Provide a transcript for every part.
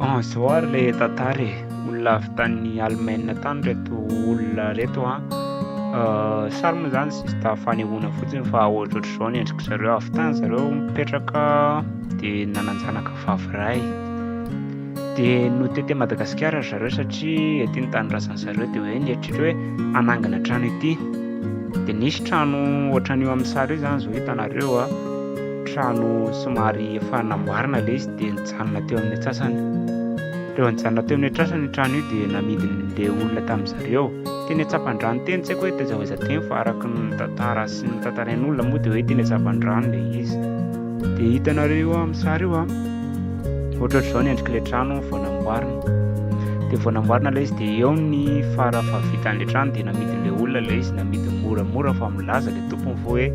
An zao ary le tantara e, olona avy tany Allemagne tany reto olona reto an, sary moa zany sista fanehoana fotsiny fa ohatrohatry zao ny endrik'i zareo, avy tany zareo mipetraka de nanan-janaka vavy ray, de notety an'i Madagasikara ry zareo satria ety ny tanindrazan'i zareo de hoe nieritreritra hoe hanangana trano ety, de nisy trano ohatran'io amin'ny sary io zany zao hitanareo an, trano somary efa namboarina le izy de. nijanona teo amin'ny atsasany. Rehefa nijanona teo amin'ny atrasany io trano io dia namidin'le olona tamin'ny zareo. Teny Antsapandrano teny, tsy haiko hoe taiza ho aiza teny fa araka ny tantara sy ny tantarain'olona moa dia hoe teny Antsapandrano le izy. Dia hitanareo io amin'ny sary io an! Ohatraohatr'izao ny endrik'le trano vao namboarina. Dia vao namboarina le izy dia eo ny fara fahavitan'le trano dia namidin'le olona le izy, namidiny moramora fa milaza le tompony fa hoe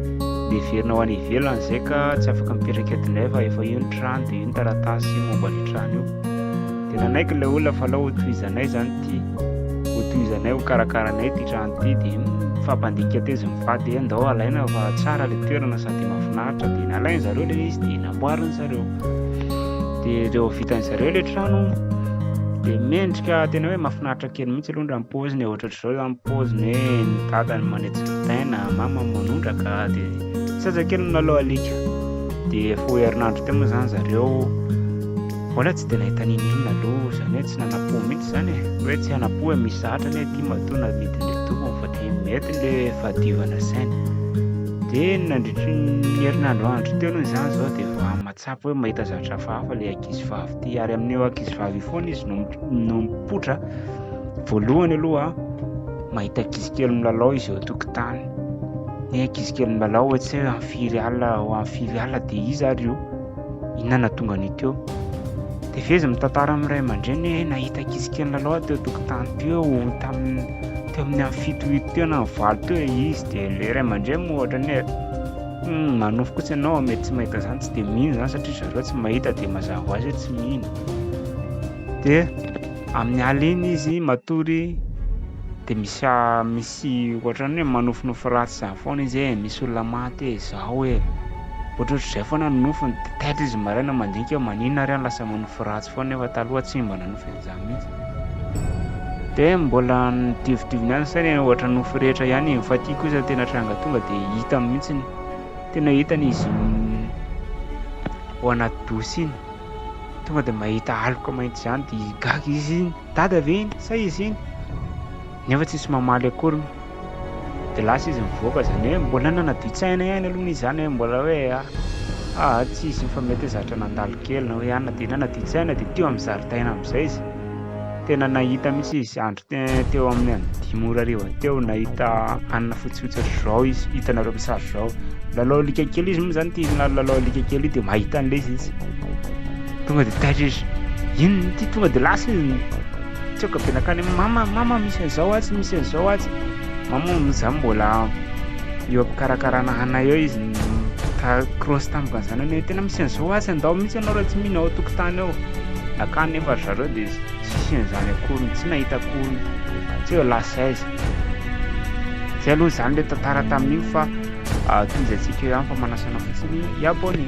miverina ho any ivelany zay ka tsy afaka mipetraka eto indray fa efa io ny trano dia iny taratasy momba ny trano io dia nanaiky ilay olona fa alao hotohizanay zany ty hotohizanay ho karakaranay ty trano ty dia mifampandika tezy mivady hoe ndao alaina fa tsara le toerana sady mahafinaritra dia nalainy zareo le izy dia namboariny zareo dia reo vitany zareo le trano dia mendrika tena hoe mahafinaritra kely mihitsy aloha raha mipoziny e ohatratr'izao zany mipoziny hoe ny dadany manetsy ny taina mama manondraka dia sasa kely nanao alika Dia efa ho herinandro teo moa izany zareo mbola tsy dia nahita n'inon'inona aloha, izany hoe tsy nanampo mihitsy izany e, hoe tsy hanampo e, misy zahatra anie aty matoa namidin'ilay tompony fa dia mety ilay fahadiovana saina. Dia nandritry ny herinandro andro teo aloha izany izao dia efa mahatsapa hoe mahita zavatra hafahafa ilay ankizivavy ity, ary amin'io ankizivavy io foana izy no no mipoitra voalohany aloha mahita ankizikely milalao izy eo an-tokotany. Ny ankizy kely milalao hoe tsy hoe firy alina ho amin'ny firy alina dia iza ary io? Inona no nahatonga an'io teo? Dia feheziny mitantara amin'ny ray aman-dreny hoe nahita ankizy kely milalao aho teo an-tokotany teo tamin'ny teo amin'ny amin'ny fito minitra teo na amin'ny valo teo ilay izy dia ilay ray aman-dreny moa ohatra ny hoe manofy kosa ianao mety tsy mahita izany tsy dia mino izany satria zareo tsy mahita dia mazava ho azy hoe tsy mino dia amin'ny alina izy matory dia misy misy Tsy ohatran'ny hoe manofinofy ratsy zany foana izy ee, misy olona maty ee, zao ee. Ohatrohatr'izay foana ny nofiny, de taitra izy maraina mandinika hoe maninona ary aho lasa manofy ratsy foana nefa taloha tsy mba nanofy an'izany mihitsy. De mbola nodiovidoviny ihany ny sainy hoe ohatra ny nofy rehetra ihany ee, fa ity kosa tena tranga tonga de hitany mihitsy, tena hitany izy iny ao anaty douche iny, tonga de mahita aloka mainty zany de gaga izy, dada ve iny sa izy iny? Nefa tsisy mamaly akory moa. Dia lasa izy mivoaka izany hoe mbola nanaditsaina ihany aloha izy izany hoe mbola hoe a a tsy hisy fa mety hoe zatra nandalo kely na hoe anona dia nanaditsaina dia teo amin'ny zaridaina amin'izay izy. Tena nahita mihitsy izy andro teo amin'ny any dimy ora hariva teo nahita anona fotsifotsy ohatr'izao izy hitanareo amin'ny sary izao. Lalao alika kely izy moa izany ity lalao alika kely ity dia mahita an'ilay izy izy. Tonga dia taitra izy. Inona ity tonga dia lasa izy. Tsoaka be nankany amin'ny mama, mama misy an'izao atsy, misy an'izao atsy. Mama moa izaho mbola eo am-pikarakarana hana eo izy ta- cross tamiko ny zanany hoe tena misy an'izao atsy, andao mihitsy ianao raha tsy mino ao an-tokotany ao. Nankany nefa ry zareo dia tsisy an'izany akory, tsy nahita akory, tsy hoe lasa aiza. Izay aloha izany ilay tantara tamin'iny fa ah, tohizatsika eo ihany fa manasana fotsiny, y abonné.